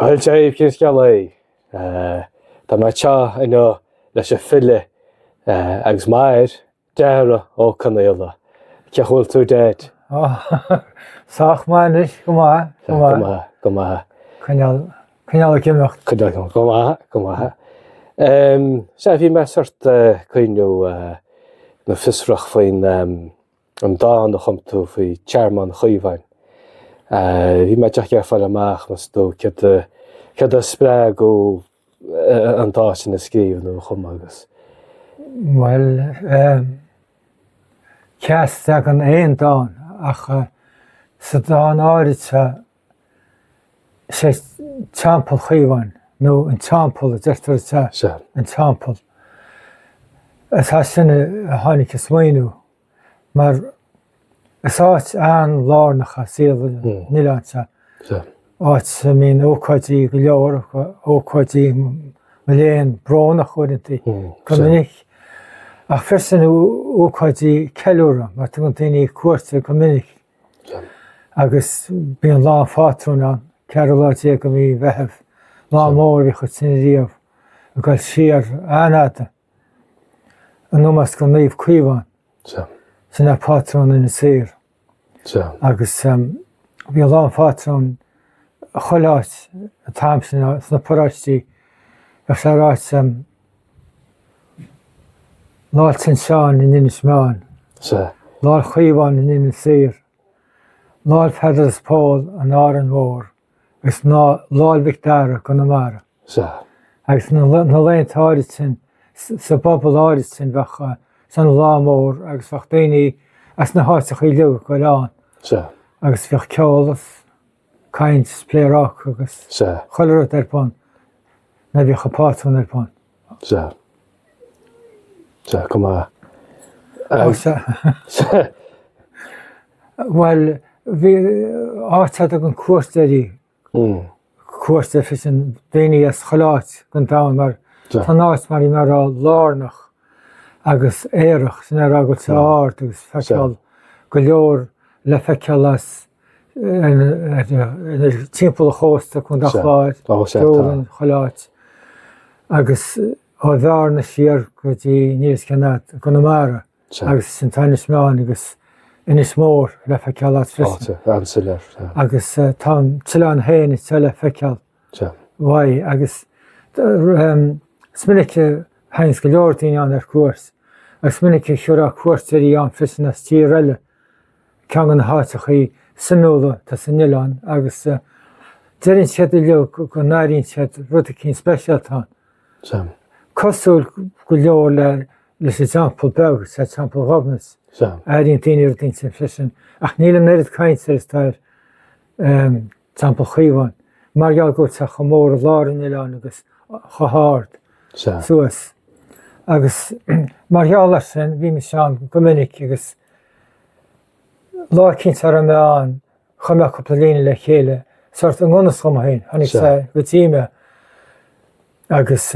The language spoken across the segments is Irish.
Bhuel, Jay, cén scéal é? Tá mé anseo inniu leis an file agus m'athair, Dara Ó Conaola. Cén chaoi a bhfuil tú, Dad? Sách maith anois, go maith, go maith. Go maith, go maith. Coinneáil, coinneáil ag imeacht. Coinneáil, coinneáil, go maith, go maith. Sea, bhí mé sórt ag cuimhneamh nó fiosrach faoin. An dán a chum tú faoi Thearmann Chaomháin, bhí mé díreach ag iarraidh fáil amach, meas tú, céard a spreag thú an dán sin a scríobh nó a chumadh agus. Bhuel, ehm, cé as a dtagann aon dán ach sa dán áirid seo, Is é Teampall Chaomháin, nó an Teampall a deirtear is ea an Teampall. Is as sin a tháinig an smaoineamh mar is áit an-lárnach i saol an oileáin seo, áit a mbíonn ócáidí go leor, ócáidí mo léan, brónach uaireanta go minic, ach freisin ócáidí ceiliúrtha mar tugann daoine cuairt air go minic. Agus bíonn Lá an Phátrúin ann, ceathrú lá déag de mhí Mheitheamh, lá mór a bhíodh ansin riamh ag goil siar an-fhada, in omós do Naomh Caomhán, sin é pátrún Inis Oírr. Agus bhí Lá an Phátrúin chuile áit an t-am sin, sna paróistí, bheadh sé ar áit, Lá'l San Seáin in Inis Meáin. Sea. Lá'l Chaomháin in Inis Oírr. Lá'l Pheadair is Phóil in Árainn Mhór. Agus Lá'l Mhic Dara i gConamara. Sea. Agus na laethanta áirid sin, sa bpobal áirid sin, bheadh sé ina lá mór agus bheadh daoine as na háiteachaí uilig ag goil ann. Sea. Agus bheadh ceol is. caint 's pléaráca agus Sea. chuile rud ar bun. Nuair a bhíodh an pátrún ar bun. Sea. Sea, go maith. Ó Ag, sea. sea, Bhuel, bhí áit a dtagann cuairteoirí. mm, Cuairt freisin daoine as chuile áit den domhan mar Sea. tá an áit mar a bhí mé a rá lárnach agus aerach sin a rá go bhfuil sé ard agus feiceáil go leor le feiceáil as timpeall ar chósta Chontae an Chláir, Dúlainn, chuile áit agus ó Bhearna siar go dtí Níos Cionnaith, Conamara agus ansin tá Inis Meáin agus Inis Mór le feiceáil as freisin. Agus tá an t-oileán féin is ea le feiceáil. Sea. Bhí, agus is minic a thaganns go leor daoine ann ar cuairt, agus is minic a thabharfá cuairteoirí ann freisin as tír eile. Ceann de na háiteachaí suimiúla atá san oileán, agus deireann siad uiliog go n-airíonn siad rud eicínt speisialta ann. Sea. Cosúil go leor le, leis an Teampall Beag, sea, Teampall Ghobnait. Sea. Airíonn daoine rud aisteach freisin, ach níl an oiread cainte is atá ar, Teampall Chaomháin, mar gheall go tá sé chomh mór i lár an oileáin agus chomh hard suas. Agus mar gheall ar sin, bhí mise ann go minic agus lá eicínt a raibh mé ann, chum mé cúpla líne le chéile, sórt i ngan fhios dhom féin, tháinig sé go dtí mé. agus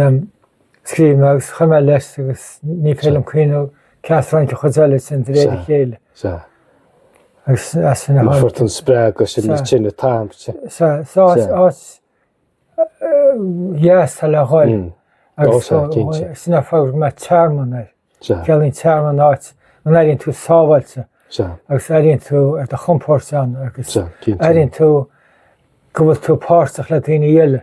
scríobh mé agus chuir mé leis agus ní féidir liom cuimhniú cé as ar tháinig an chuid eile sin de réir a chéile. Agus as sin a tháinig. Fuair tú an spreagadh as an áit. Is áit dheas atá le ghoil agus sin an fáth ar thug mé Tearmann air. Ciallaíonn tearmann áit an airíonn tú sábháilte agus airíonn tú ar do chompóirt ann agus airíonn tú go bhfuil tú páirteach le daoine eile.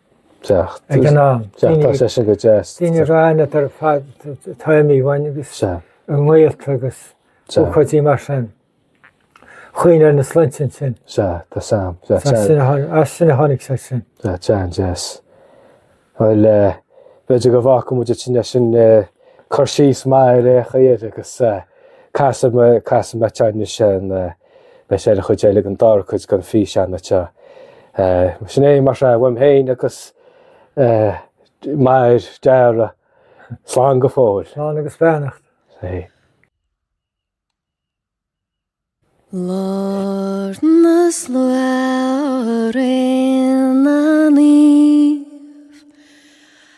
Ceacht. Ag an am. Ceacht tá sé sin go deas. Daoine ráine ar fad taimí bhain agus an ngaolta agus chuidí mar sin. Chuoin ar na slintin sin. Se, tá sam. As sin a tháinig sé sin. Tá tean deas. Bhfuil beidir go bhhaca muide sin leis sin chur síos mair é chuir agus casa me teanne sin Beidh sé ar an chuid deiridh den dara cuid den físeanna seo. Sin é mar sin uaim féin agus Mac Dara. Slán go fóill. Slán agus beannacht. Sea. Lár na slua, Ré na Naomh.